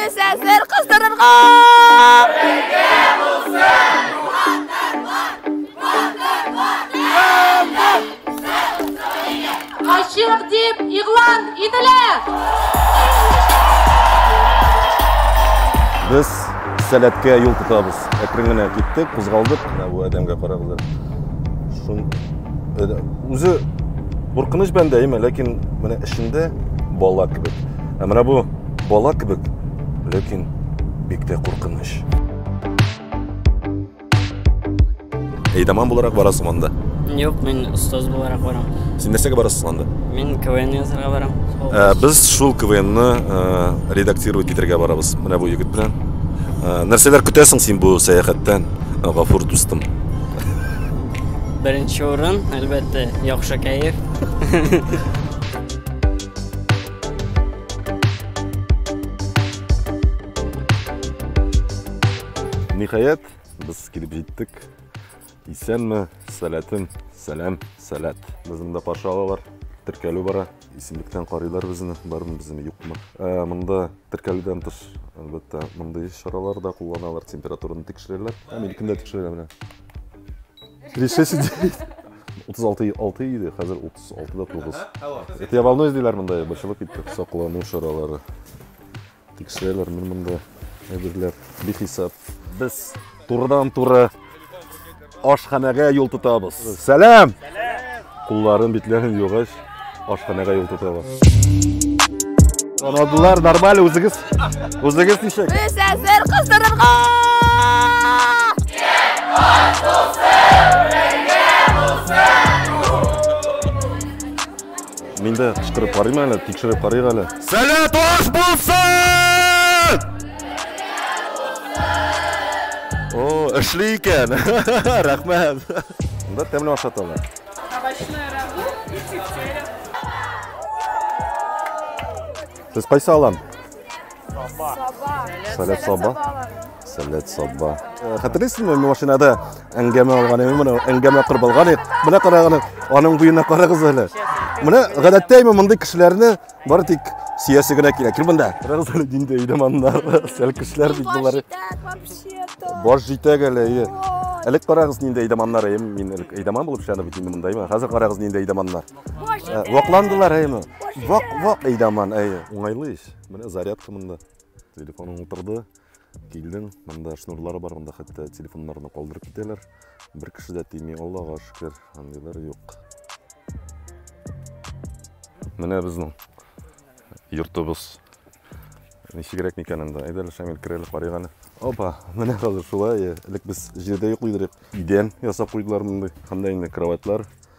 Мөсәфир кыздырырга! Ачык дип игълан ителә! Без сәләткә юл тотабыз. Әкрен генә киттек, кузгалдык. Менә бу адәмгә карагыз әле. Шун үзе куркыныч бәндә әйме ләкин менә эчендә бала кебек ә менә бу бала кебек ләкин бик тә куркыныч әйдаман буларак барасың анда юк мин остаз буларак барам син нәрсәгә барасың анда мин квн язарга барам ә, без шул квнны ә, редактировать итәргә барабыз менә бу егет белән ә, нәрсәләр көтәсең син бу сәяхәттән гафур дустым Беренче урын, әлбәттә, яхшы кәеф. Ниһаять, без килеп җиттек. Исәнме, сәләтем, сәлам, сәләт. Безне дә каршы алалар, теркәлү бара. Исемлектән карыйлар безне, бармы безне, юкмы. Ә, монда теркәлүдән тыш, әлбәттә, мондый чаралар да кулланалар, температураны тикшерәләр. Ә мин кемдә тикшерәләр менә? Решеси 36 6 иде, хәзер 36 да 9. Это я волнуюсь диләр монда, борчылып китте. Саклану чаралары. Тикшерәләр мин монда әйберләр бихисап. Без турыдан-туры ашханәгә юл тотабыз. Сәлам! Кулларын, битләрен югач, ашханәгә юл тотабыз. Танадылар, нормаль, үзегез, үзегез ничек? Без әзер кыздырырга! Мин дә кычкырып карыйм әле, тикшереп карыйк әле. Сәләт аш булсын! О, эшли икән. Рәхмәт. Монда тәмле ашаталар. Овощной рагу и пюре. Сез кайсы алан? Саба. Сәләт саба. Сәләт сабба. Хәтерлисезме, машинада әңгәмә алган идем, моны әңгәмә кырып алган идек. Менә карагыз, аның буена карагыз әле. Менә гадәттә имә мондый кешеләрне бары тик сөясе генә килә. Кил монда. Карагыз әле нинди өйдә моннар. Сәл кешеләр бит болар. Баш җитәк әле. Әлек карагыз нинди әйдаманнар әйем. Мин әлек әйдаман булып шәне бит инде монда. Хәзер карагыз нинди әйдаманнар. Вакландылар әйме. Вак вак әйдаман әйе. Уңайлы ич. Менә зарядка монда. Телефоның утырды. Килдем, монда шнурлары бар, монда хәтта телефоннарны калдырып китәләр. Бер кеше дә тими, Аллага шөкер, андыйлар юк. Менә безнең йортыбыз. Ничегрәк микән анда? Әйдәле Шамил керәле карыйк әле. Опа, менә хәзер шулай. Элек без җирдә йоклый идек. Идән ясап куйдылар мондый. Анда инде кроватьлар,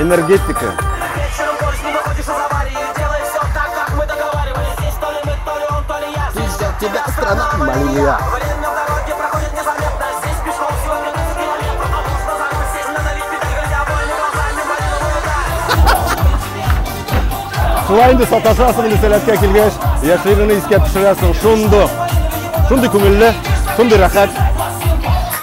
Энергетика. тебя страна Малия. Шулай инде саташасың инде сәләткә килгәч, яшьлегеңне искә төшерәсең. Шундый, шундый күңелле, шундый рәхәт.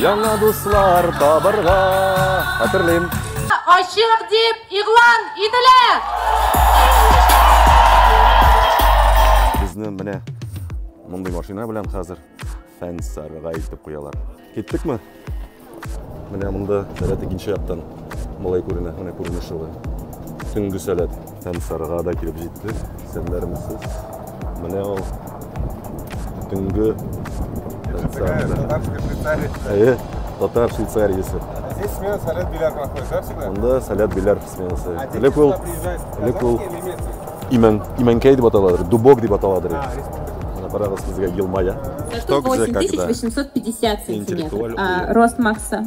Яңа дуслар табырга хәтерлим. Ачык дип игълан ителә. Безне менә мондый машина белән хәзер Фәнсарга илтеп куялар. Киттекме? Менә монда сәләт икенче яктан малай күренә, менә күренеш шулай. Төнге сәләт. Һәм Сарыга да килеп җиттек, сәннәрмесез. Менә ул төнге татарская Швейцария. Әйе, татар Швейцариясе. Здесь смена Салят Беляр проходит, да, всегда? Анда Салят Беляр сменасы. Элек ул, элек ул имән, имәнкәй дип аталадыр, дубок дип аталадыр. А, Ана карагыз сезгә елмая. Что где, когда? 850 сантиметров. А рост Макса?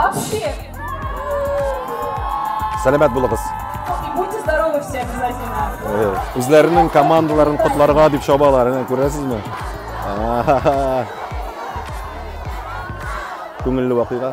Вообще. Сәләмәт булыгыз. Будьте здоровы все обязательно. Э, үзләренең командаларын котларга дип чабалар, әнә күрәсезме? Күңелле вакыйга.